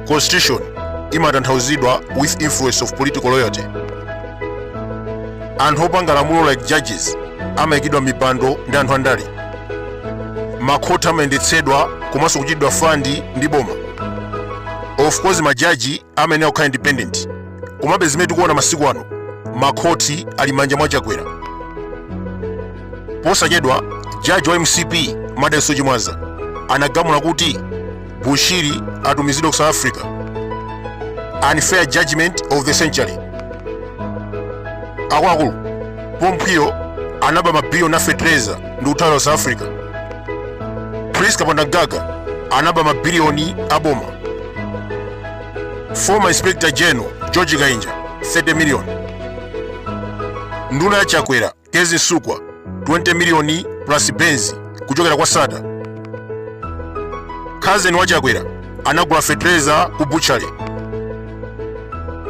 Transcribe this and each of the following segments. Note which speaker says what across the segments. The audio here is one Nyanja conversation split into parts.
Speaker 1: constitution imatanthauzidwa with influence of political loyalty anthu opanga lamulo like judges amayikidwa m'mipando ndi anthu andale makhoti amayendetsedwa komanso kuchitidwa fandi ndi boma of course majaji amayenera kukhala independent komabe zimene tikuona masiku ano makhoti ali m'manja mwa chakwera posachedwa jaji wa mcp madalitso chimwaza anagamula kuti bushiri atumizidwe ku south africa unfair judgment of the century akuluakulu pompo'wo anaba mabiliyoni a fetereza ndi kuthawira ku south africa prince kapondamgaga anaba mabiliyoni a boma former inspector general george kainja 30 million nduna ya chakwera kezzie msukwa 20 million plus benzi kuchokera kwa sattar cousin wa chakwera anagula fetereza ku butchery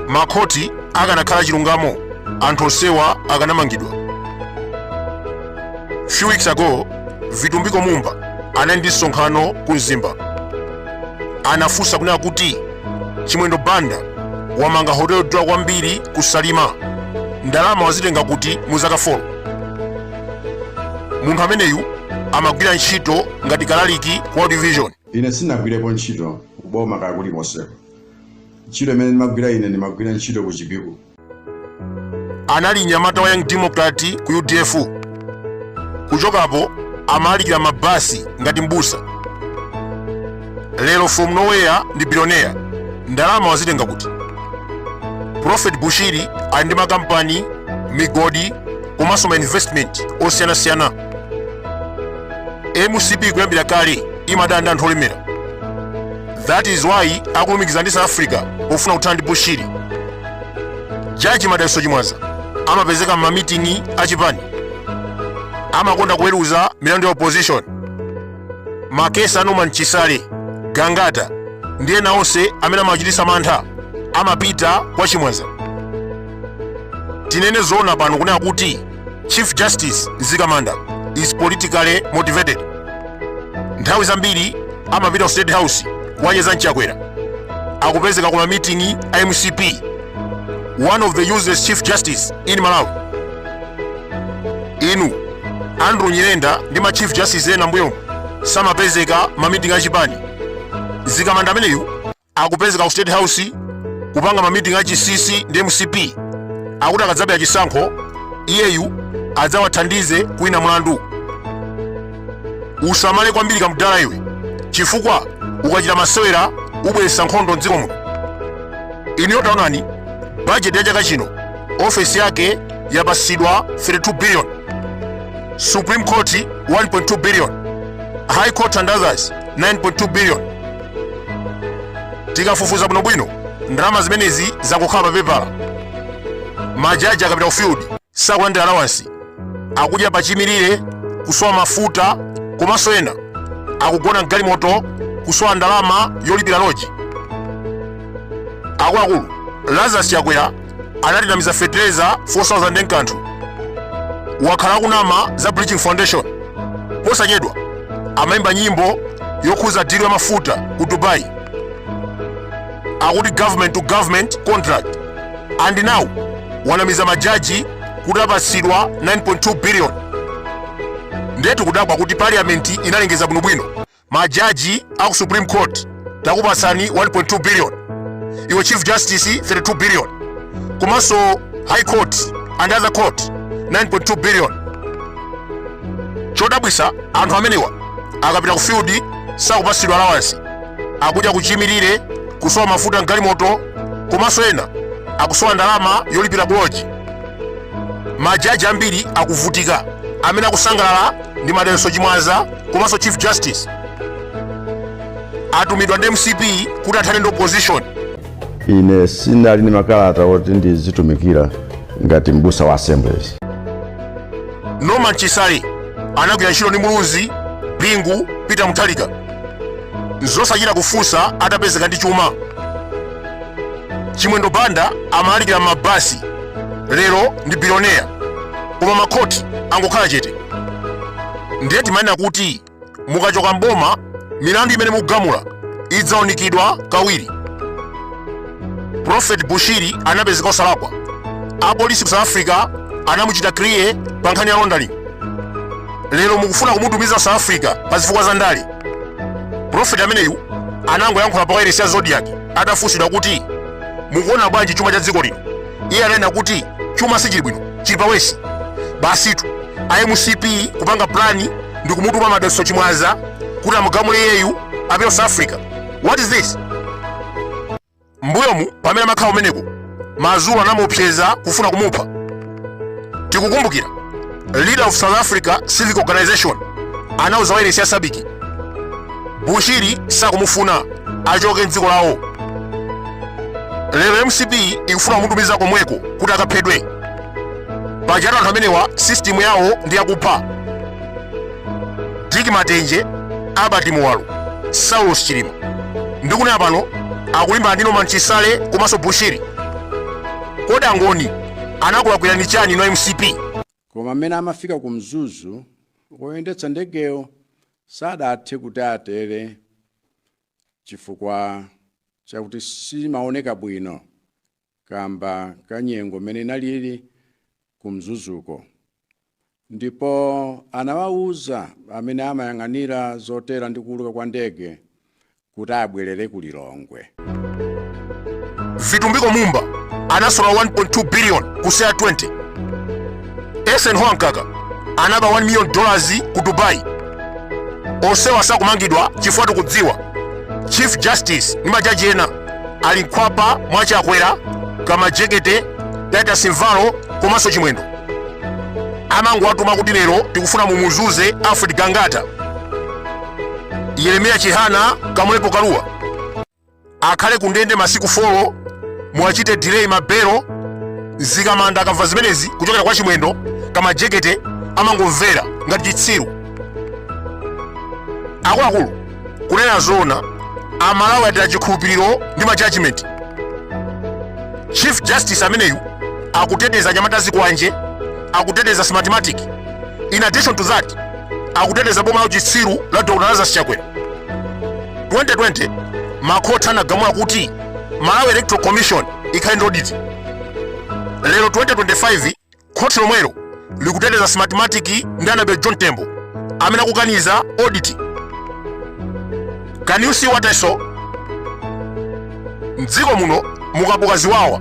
Speaker 1: makhoti akanakhala chilungamo anthu onsewa akanamangidwa few weeks ago vitumbiko mumba anali ndi msonkhano ku mzimba anafunsa kunena kuti chimwendo banda wamanga hotelo yodula kwambiri ku salima ndalama wazitenga kuti mu zaka 4 munthu ameneyu amagwira ntchito ngati kalaliki ku world vision ine
Speaker 2: sindinagwirepo ntchito kuboma kaya kulikonseko ntchito imene ndimagwira ine ndimagwira ntchito ku chipiku
Speaker 1: anali mnyamata wa young democrat ku udf kuchokapo amalalikira m'mabasi ngati mbusa lero from nowhere ndi bilioneya ndalama wazitenga kuti prophet bushiri ali ndi makampani migodi komanso ma investment osiyanasiyana mcp kuyambira kale imadana ndi anthu olemera that is why akulumikiza ndi south africa pofuna kuthana ndi bushiri jaji madalitso chimwaza amapezeka m'mamiting'i achipani amakonda kuweruza milandu ya opposition makesi a norman chisale gangata ndi ena onse amene amachititsa mantha amapita kwa chimwaza tinene zoona pano kunena kuti Chief Justice Mzikamanda is politically motivated. Nthawi zambiri amapita ku State House kukacheza ndi chakwera akupezeka kuma meeting a MCP one of the useless chief justice in Malawi inu Andrew Nyirenda ndi ma chief justice ena am'mbuyo samapezeka m'ma meeting a chipani Mzikamanda ameneyu akupezeka ku state house kupanga mamiting a chisisi ndi mcp akuti akadzabera chisankho iyeyu adzawathandize kuwina mlandu usamale kwambiri kamdala iwe chifukwa ukachita masewera ubweretsa nkhondo mdziko muno inuyo taonani budget ya chaka chino ofesi yake yapatsidwa 32 billion supreme court 1.2 billion high court and others 9.2 billion tikafufuza bwinobwino ndalama zimenezi zangokhala pa pepala majaji akapita ku field sakulandira alawansi akudya pachimirire kusowa mafuta komanso ena akugona mgalimoto kusowa ndalama yolipira loji akuluakulu lazarus chakwera anatinamiza fetereza 4000 nkanthu wakhala akunama za bridging foundation posachedwa amayimba nyimbo yokhuza dilo ya mafuta ku dubai akuti government to government contract and now wanamiza majaji kuti apatsidwa 9.2 billion ndetu kudabwa kuti parliament inalengeza bwinobwino majaji aku supreme court takupatsani 1.2 billion iwe chief justice 32 billion komanso high court and other court 9.2 billion chodabwisa anthu amenewa akapita ku field sakupatsidwa allowance akudya pachimirire kusowa mafuta mgalimoto komanso ena akusowa ndalama yolipira kuloji majaji ambiri akuvutika amene akusangalala ndi madalitso chimwaza komanso chief justice atumidwa ndi mcp kuti athane ndi opposition
Speaker 3: ine ndinali ndi makalata oti ndizitumikira ngati mbusa wa assemblies
Speaker 1: norman chisale anagwira ntchito ndi muluzi bingu peter mutharika nzosachita kufunsa atapezeka ndi chuma chimwendo banda amalalikira mmabasi lero ndi bilioneya koma makhoti angokhala chete ndiye timanena kuti mukachoka mboma milandu imene mukugamula idzaunikidwa kawiri prophet bushiri anapezeka osalakwa apolisi ku south africa anamuchita kiliya pa nkhani ya laundering lero mukufuna kumutumiza south africa pa zifukwa za ndale prophet ameneyu anangoyankhula pa wailesi ya zodiak atafunsidwa kuti mukuona bwanji chuma cha dziko lino iye ananena kuti chuma sichili bwino chili pawesi basitu a mcp kupanga plani ndi kumutuma madalitso chimwaza kuti amugamule iyeyu apite south africa what is this mbuyomu pamene amakhala kumeneko mazulu anamuopseza kufuna kumupha tikukumbukira leader of south africa civic organization anauza wailesi ya sabiki bushiri sakumufuna achoke mdziko lawo lero mcp ikufuna kumutumiza komweko kuti akaphedwe pajatu anthu amenewa sistimu yawo ndi yakupha dick matenje albert muwalo saulos chilima ndikunena pano akulimbana ndi norman chisale komanso bushiri kodi angoni anakulakwirani chani inu mcp koma amene
Speaker 4: amafika ku mzuzu oyendetsa ndegeyo Sadathe kuti atere chifukwa chakuti simaoneka bwino kaamba ka nyengo m'mene inaliri ku Mzuzuko ndipo anawauza amene amayang'anira zotera ndi kuuluka kwa ndege kuti abwerere ku
Speaker 1: Lilongwe. Vitumbiko Mumba anasola 1.2 billion ku CR 20. Eisenhower Mkaka anaba 1 million dollars ku Dubai. Onsewa sakumangidwa chifukwa tikudziwa Chief Justice ndi majaji ena ali m'khwapa mwa Chakwera, Kamajekete, Titus Mvalo komanso Chimwendo. Amangowatuma kuti lero tikufuna mumuzunze Alfred Gangata. yeremiya chihana kamlepo kaluwa akhale ku ndende masiku 4 muwachite delay mabelo mzikamanda akamva zimenezi kuchokera kwa chimwendo kamajekete amangomvera ngati chitsiru akuluakulu kunena zoona amalawi ataya chikhulupiriro ndi ma judgment chief justice ameneyu akuteteza anyamata azikwanje akuteteza smartmatic in addition to that akuteteza boma la uchitsiru la dr lazarus chakwera 2020 makhoti anagamula kuti malawi electoral commission ikhale ndi audit lero 2025 khoti lomwelo likuteteza smartmatic ndi annabel john tembo amene akukaniza audit can you see what i saw mdziko muno mukabuka ziwawa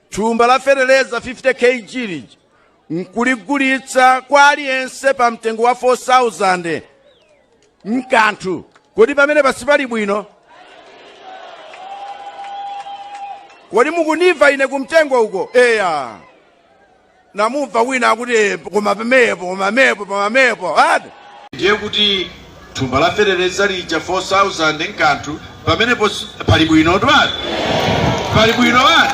Speaker 4: Thumba la feteleza 50 kg lija nkuligulitsa kwa aliyense pa mtengo wa 4000 nkanthu kodi pamenepa sipali bwino kodi mukundimva ine kumtengo uko eya namumva wina akuti "Eh, koma pamenepo koma mepo koma mepo ati ndiye kuti thumba la feteleza lija 4000 nkanthu pamenepo sipali bwino twani pali bwino wani